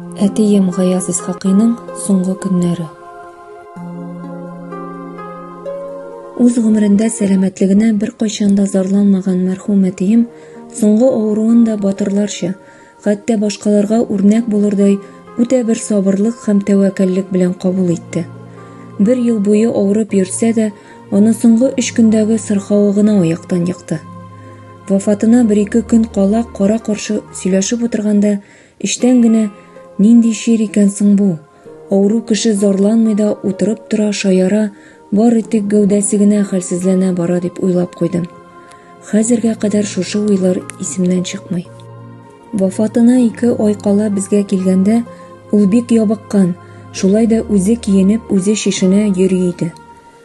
Әтием Гаяз Исхакыйның соңгы көннәре. Үз гомерендә сәламәтлегенә беркайчан да зарланмаган мәрхүм әтием соңгы авыруын да батырларча, хәтта башкаларга үрнәк булырдай үтә бер сабырлык һәм тәвәккәллек белән кабул итте. Бер ел буе авырып йөрсә дә, аны соңгы өч көндәге сырхавы гына аяктан екты. Вафатына бер-ике көн кала кара-каршы сөйләшеп утырганда, Эчтән генә, Нинди чир икән соң бу? Авыру кеше зарланмый да, утырып тора, шаяра, бары тик гәүдәсе генә хәлсезләнә бара дип уйлап куйдым. Хәзергә кадәр шушы уйлар исемнән чыкмый. Вафатына ике ай кала безгә килгәндә, ул бик ябыккан, шулай да үзе киенеп, үзе шешенә йөри иде.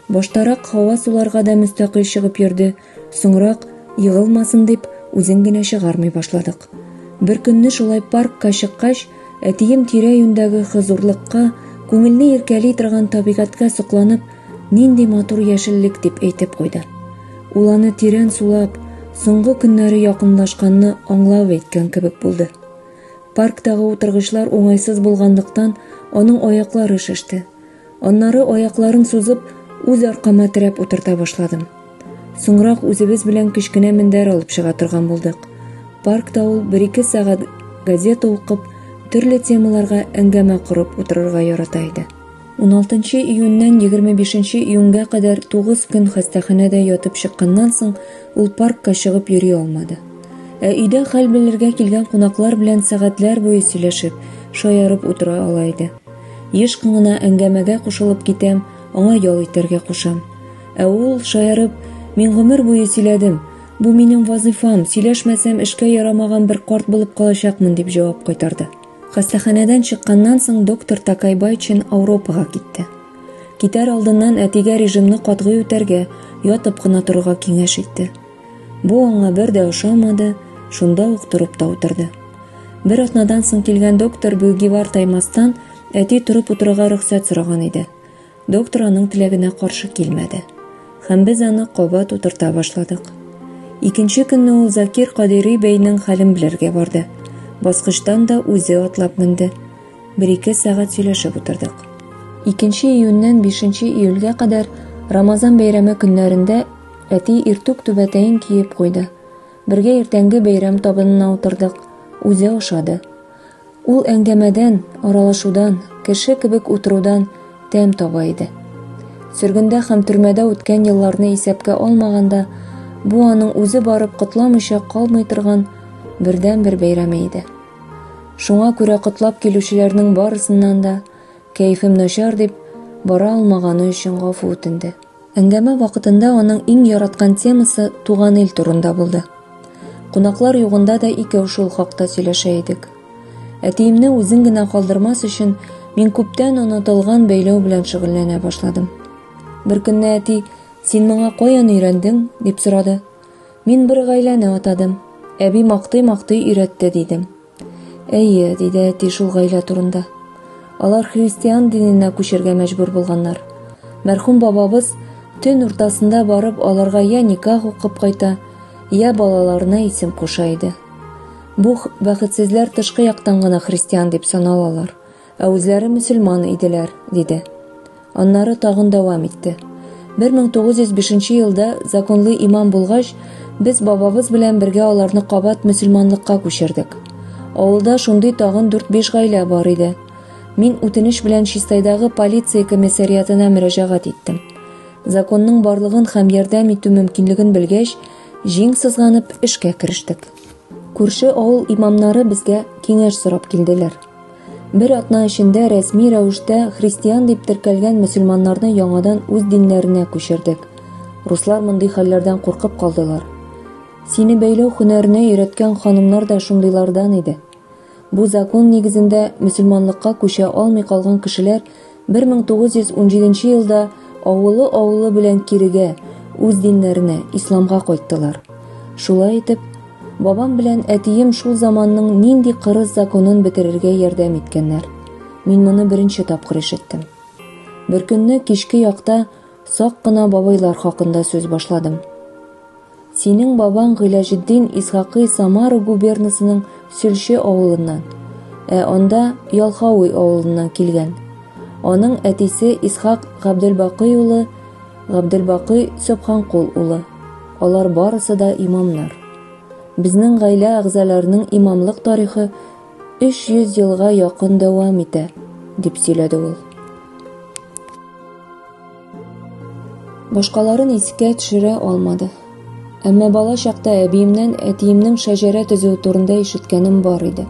Баштарак һава суларга да мөстәкыйль чыгып йөрде, Соңрак, егылмасын дип, үзен генә чыгармый башладык. Бер көнне шулай паркка чыккач, әтием тирә-юньдәге хозурлыкка, күңелне иркәли торган табигатькә сокланып, Нинди матур яшеллек, дип әйтеп куйды. Ул аны тирән сулап, соңгы көннәре якынлашканны аңлап әйткән кебек булды. Парктагы утыргычлар уңайсыз булганлыктан, аның аяклары шеште. Аннары аякларын сузып, үз аркама терәп утырта башладым. Соңрак үзебез белән кечкенә мендәр алып чыга торган булдык. Паркта ул 1-2 сәгать газета укып, төрле темаларга әңгәмә корып утырырга ярата иде. 16 июньнән 25 июньгә кадәр 9 көн хастаханәдә ятып чыкканнан соң, ул паркка чыгып йөри алмады. Ә өйдә хәл белергә килгән кунаклар белән сәгатьләр буе сөйләшеп, шаярып утыра ала иде. Еш кына әңгәмәгә кушылып китәм, аңа ял итәргә кушам. Ә ул, шаярып, мин гомер буе сөйләдем, бу минем вазыйфам, сөйләшмәсәм эшкә ярамаган бер карт булып калачакмын, дип җавап кайтарды. Хастаханәдән чыкканнан соң доктор Такайбайчин Ауропага китте. Китәр алдыннан әтигә режимны катгый үтәргә, ятып кына торырга киңәш итте. Бу аңа бер дә ошамады, шунда ук торып та утырды. Бер атнадан соң килгән доктор Бүгивар таймастан әти торып утырырга рөхсәт сораган иде. Доктор аның теләгенә каршы килмәде. Һәм без аны кабат утырта башладык. Икенче көнне ул Закир Кадири бәйнең хәлен белергә барды. Баскычтан да үзе атлап менде. Бер-ике сәгать сөйләшеп утырдык. Икенче июньнән бишенче июльгә кадәр Рамазан бәйрәме көннәрендә Әти иртүк түбәтәен киеп куйды. Бергә иртәнге бәйрәм табынына утырдык. Үзе ошады. Ул әңгәмәдән, аралашудан, кеше кебек утырудан тәм таба иде. Сөргендә һәм төрмәдә үткән елларны исәпкә алмаганда, бу аның үзе барып котламыйча калмый торган бердәнбер бәйрәме иде. Шуңа күрә котлап килүчеләрнең барысыннан да, кәефем начар дип, бара алмаганы өчен гафу үтенде. Әңгәмә вакытында аның иң яраткан темасы туган ил турында булды. Кунаклар югында да икәү шул хакта сөйләшә идек. Әтиемне үзен генә калдырмас өчен мин күптән онытылган бәйләү белән шөгыльләнә башладым. Бер көнне әти, син моңа каян өйрәндең, дип сорады. Мин бер гаиләне атадым. Әби мактый-мактый өйрәтте, дидем. Әйе, диде әти шул гаилә турында. Алар христиан диненә күчергә мәҗбүр булганнар. Мәрхүм бабабыз төн уртасында барып аларга я никах укып кайта, я балаларына исем куша иде. Бу бәхетсезләр тышкы яктан гына христиан дип саналалар, Ә үзләре мөселман иделәр, диде. Аннары тагын дәвам итте. 1905 елда законлы имам булгач, без бабабыз белән бергә аларны кабат мөселманлыкка күчердек. Авылда шундый тагын 4-5 гаилә бар иде. Мин үтенеч белән Чистайдагы полиция комиссариатына мөрәҗәгать иттем. Законның барлыгын һәм ярдәм итү мөмкинлеген белгәч, җиң сызганып эшкә керештек. Күрше авыл имамнары безгә киңәш сорап килделәр. Бер атна эчендә рәсми рәвештә христиан дип теркәлгән мөселманнарны яңадан үз диннәренә күчердек. Руслар мондый хәлләрдән куркып калдылар. Сине бәйләү һөнәренә өйрәткән ханымнар да шундыйлардан иде. Бу закон нигезендә мөселманлыкка күчә алмый калган кешеләр Бер мең тугыз йөз унҗиденче елда авылы-авылы белән кирегә, үз диннәренә, исламга кайттылар. Шулай итеп, бабам белән әтием шул заманның нинди кырыс законын бетерергә ярдәм иткәннәр. Мин моны беренче тапкыр ишеттем. Беркөнне кичке якта Сак кына бабайлар хакында сүз башладым. Синең бабаң Гыйләҗетдин Исхакый Самара губернасының Сөлче авылыннан, ә анда Ялхауй авылыннан килгән. Аның әтисе Исхак Габделбакый улы Габделбакый Сөбханкул улы. Алар барысы да имамнар. Безнең гаилә әгъзаларының имамлык тарихы 300 елга якын дәвам итә, дип сөйләде ул. Башкаларын искә төшерә алмады. Әмма бала чакта әбиемнән әтиемнең шәҗәрә төзү турында ишеткәнем бар иде.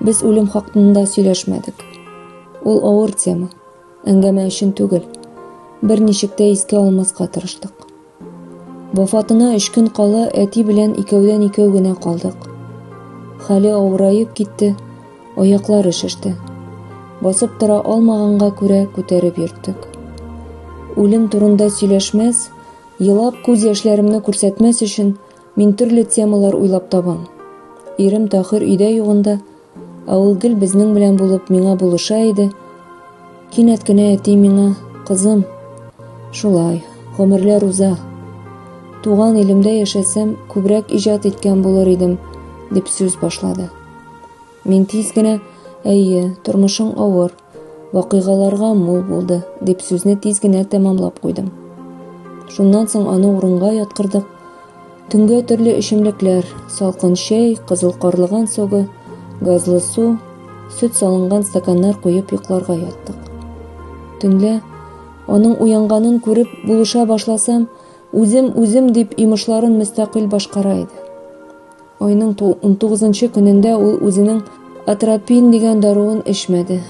Без үлем хакында сөйләшмәдек. Ул авыр тема, әңгәмә өчен түгел. Берничек тә искә алмаска тырыштык. Вафатына өч көн кала әти белән икәүдән-икәү генә калдык. Хәле авыраеп китте, аяклары шеште. Басып тора алмаганга күрә күтәреп йөрттек. Үлем турында сөйләшмәс, елап күз яшьләремне күрсәтмәс өчен мин төрле темалар уйлап табам. Ирем Тахир өйдә югында Ә ул гел безнең белән булып миңа булыша иде. Кинәт кенә әти миңа, кызым, шулай, гомерләр уза. Туган илемдә яшәсәм, күбрәк иҗат иткән булыр идем, дип сүз башлады. Мин тиз генә, әйе, тормышың авыр, Вакыйгаларга мул булды, дип сүзне тиз генә тәмамлап куйдым. Шуннан соң аны урынга яткырдык. Төнгә төрле эчемлекләр, салкын чәй, кызыл карлыган согы, газлы су, сөт салынган стаканнар куеп йокларга яттык. Төнлә аның уянганын күреп булыша башласам, үзем-үзем дип йомышларын мөстәкыйль башкара иде. Айның 19 көнендә ул үзенең атропин дигән даруын эчмәде.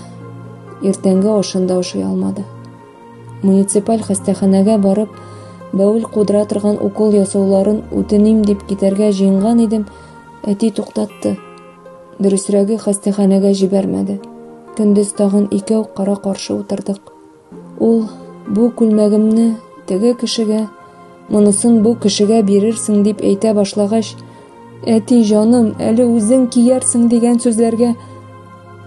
Иртәнге ашын да ашый алмады. Муниципаль хастаханәгә барып, бәүл кудыра торган укол ясауларын үтеним дип китәргә җыенган идем, әти туктатты. Дөресрәге хастаханәгә җибәрмәде. Көндез тагын икәү кара-каршы утырдык. Ул, бу күлмәгемне теге кешегә, монысын бу кешегә бирерсең дип әйтә башлагач, әти җаным, әле үзең киярсең дигән сүзләргә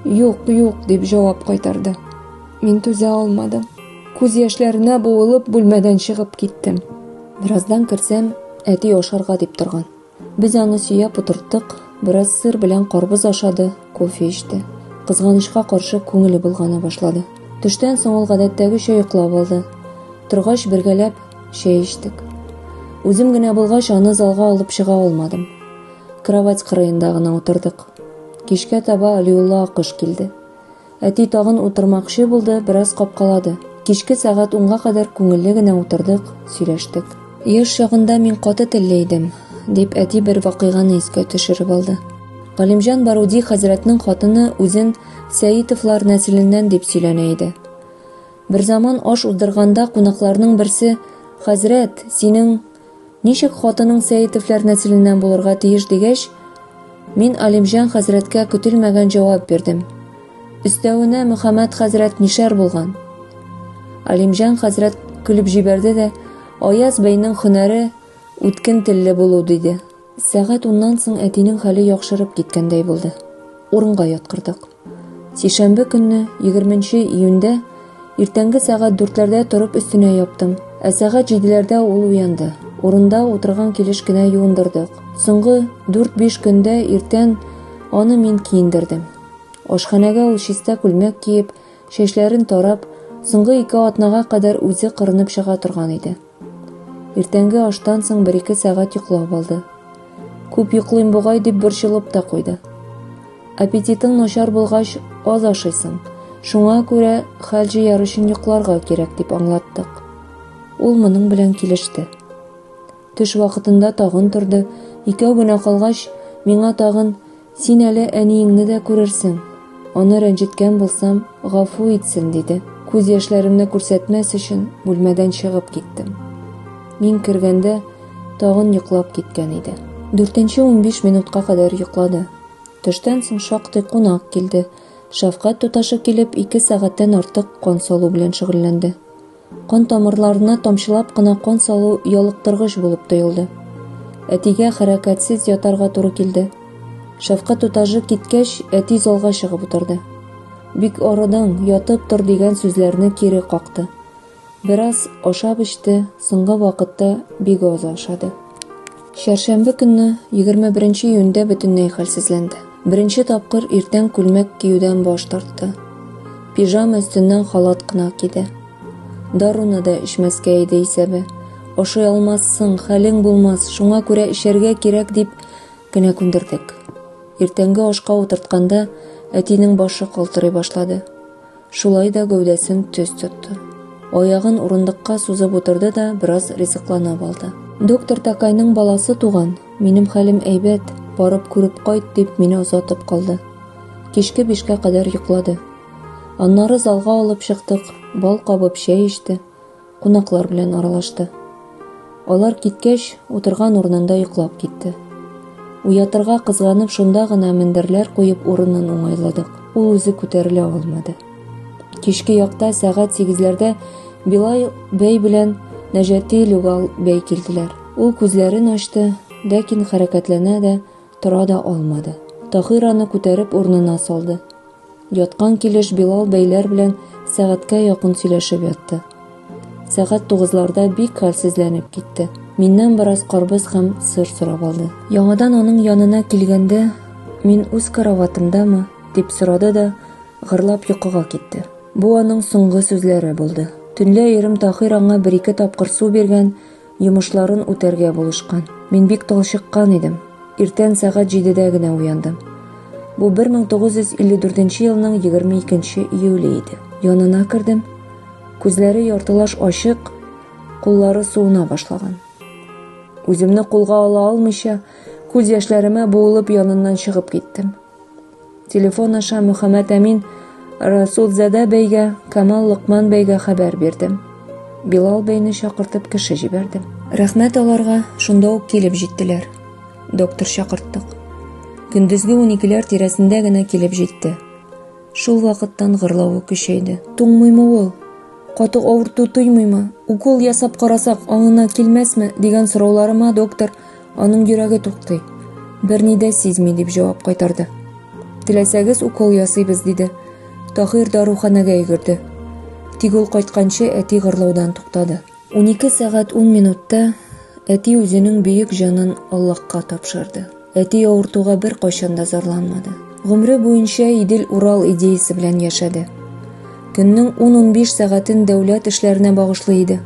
юк, юк дип җавап кайтарды. Мин түзә алмадым. Күз яшьләренә буылып бүлмәдән чыгып киттем. Бераздан керсәм, әти ашарга дип торган. Без аны сөяп утырттык, бераз сыр белән карбыз ашады, кофе эчте. Кызганычка каршы, күңеле болгана башлады. Төштән соң ул гадәттәгечә йоклап алды. Торгач, бергәләп чәй эчтек. Үзем генә булгач, аны залга алып чыга алмадым. Кровать кырыенда гына утырдык. Кичкә таба Алиулла Акыш килде. Әти тагын утырмакчы булды, бераз капкалады. Кичке сәгать унга кадәр күңелле генә утырдык, сөйләштек. Яшь чагында мин каты телле идем, дип әти бер вакыйганы искә төшереп алды. Галимҗан Баруди хәзрәтнең хатыны үзен Сәитовлар нәселеннән дип сөйләнә иде. Берзаман аш уздырганда кунакларның берсе, Хәзрәт, синең Ничек хатының Сәетовләр нәселеннән булырга тиеш дигәч, мин Алимҗан хәзрәткә көтелмәгән җавап бирдем. Өстәвенә Мөхәммәд хәзрәт мишәр булган. Алимҗан хәзрәт көлеп җибәрде дә, Аяз бәйнең хөнәре үткен телле булу, диде. Сәгать уннан соң әтинең хәле яхшырып киткәндәй булды. Урынга яткырдык. Сишәмбе көнне, 20 нче июньдә, иртәнге сәгать дүртләрдә торып өстенә яптым. Ә сәгать җиделәрдә ул уянды. Урында утырган килеш кенә юындырдык. Соңгы дүрт-биш көндә иртән аны мин киендердем. Ашханәгә ул чиста күлмәк киеп, чәчләрен тарап, соңгы ике атнага кадәр үзе кырынып чыга торган иде. Иртәнге аштан соң бер-ике сәгать йоклап алды. Күп йоклыйм бугай дип борчылып та куйды. Аппетитың начар булгач, аз ашыйсың. Шуңа күрә хәл җыяр өчен йокларга кирәк дип аңлаттык. Ул моның белән килеште. Төш вакытында тагын торды. Икәү генә калгач, миңа тагын Син әле әниеңне дә күрерсең. Аны рәнҗеткән булсам, гафу итсен, диде. Күз яшьләремне күрсәтмәс өчен бүлмәдән чыгып киттем. Мин кергәндә тагын йоклап киткән иде. Дүртенче унбиш минутка кадәр йоклады. Төштән соң шактый кунак килде. Шәфкать туташы килеп, ике сәгатьтән артык кан салу белән шөгыльләнде. Кан тамырларына тамчылап кына кан салу ялыктыргыч булып тоелды. Әтигә хәрәкәтсез ятарга туры килде. Шәфкать тутажы киткәч, әти залга чыгып утырды. Бик арыдың, ятып тор дигән сүзләрне кире какты. Бераз ашап-эчте, соңгы вакытта бик аз ашады. Чәршәмбе көнне, 21 нче июньдә бөтенләй хәлсезләнде. Беренче тапкыр иртән күлмәк киюдән баш тартты. Пижама өстеннән халат кына киде. Даруны да эчмәскә иде исәбе. Ашый алмассың, хәлең булмас, шуңа күрә эчәргә кирәк дип кенә күндердек. Иртәнге ашка утыртканда әтинең башы калтырый башлады. Шулай да гәүдәсен төз тотты. Аягын урындыкка сузып утырды да бераз ризыкланып алды. Доктор Такайның баласы туган, минем хәлем әйбәт, барып күреп кайт, дип мине озатып калды. Кичке бишкә кадәр йоклады. Аннары залга алып чыктык, бал кабып чәй эчте. кунаклар белән аралашты. Алар киткәч, утырган урынында йоклап китте. Уятырга кызганып шунда гына мендерләр куеп урынын уңайладык. Ул үзе күтәрелә алмады. Кичке якта сәгать сигезләрдә Билай бәй белән Нәҗәти Люгал бәй килделәр. Ул күзләрен ачты, ләкин хәрәкәтләнә дә, тора да алмады. Таһир аны күтәреп урынына салды. Яткан килеш Билал бәйләр белән сәгатькә якын сөйләшеп ятты. Сәгать тугызларда бик хәлсезләнеп китте. Миннән бераз карбыз һәм сыр сорап алды. Яңадан аның янына килгәндә, мин үз караватымдамы, дип сорады да, гырлап йокыга китте. Бу аның соңгы сүзләре булды. Төнлә ирем Таһир аңа бер-ике тапкыр су биргән, Йомышларын үтәргә булышкан. Мин бик талчыккан идем. Иртән сәгать җидедә генә уяндым. Бу 1954 елның 22 июле иде. Янына кердем. Күзләре яртылаш ачык, куллары суына башлаган. Үземне кулга ала алмыйча, күз яшьләремә буылып яныннан чыгып киттем. Телефон аша Мөхәммәт Әмин Расулзадә бәйгә, Камал Локман бәйгә хәбәр бирде. Билал бәйне чакыртып кеше җибәрде. Рәхмәт аларга, шунда ук килеп җиттеләр. Доктор чакырттык. Көндезге уникеләр тирәсендә генә килеп җитте. Шул вакыттан гырлавы көчәйде. Туңмыймы ул? Каты авырту тоймыймы? Укол ясап карасак, аңына килмәсме? дигән сорауларыма доктор Аның йөрәге туктый. Берни дә сизми, дип җавап кайтарды. Теләсәгез, укол ясыйбыз, диде. Таһир даруханәгә йөгерде. Тик ул кайтканчы әти гырлаудан туктады. 12 сәгать 10 минутта әти үзенең бөек җанын Аллаһка тапшырды. Әти авыртуга бер кайчан да зарланмады. Гомре буенча Идел Урал идеясе белән яшәде. Көннең 10-15 сәгатен дәүләт эшләренә багышлый иде.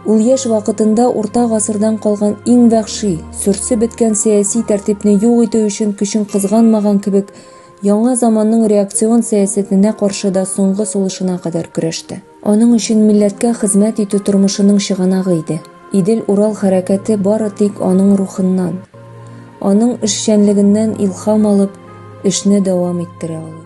Ул яшь вакытында урта гасырдан калган иң вәхши, сөрсе беткән сәяси тәртипне юк итү өчен көчен кызганмаган кебек, яңа заманның реакцион сәясәтенә каршы да соңгы сулышына кадәр көрәште. Аның өчен милләткә хезмәт итү тормышының чыганагы иде. Идел-Урал хәрәкәте бары тик аның рухыннан, аның эшчәнлегеннән илһам алып, эшне дәвам иттерә алыр.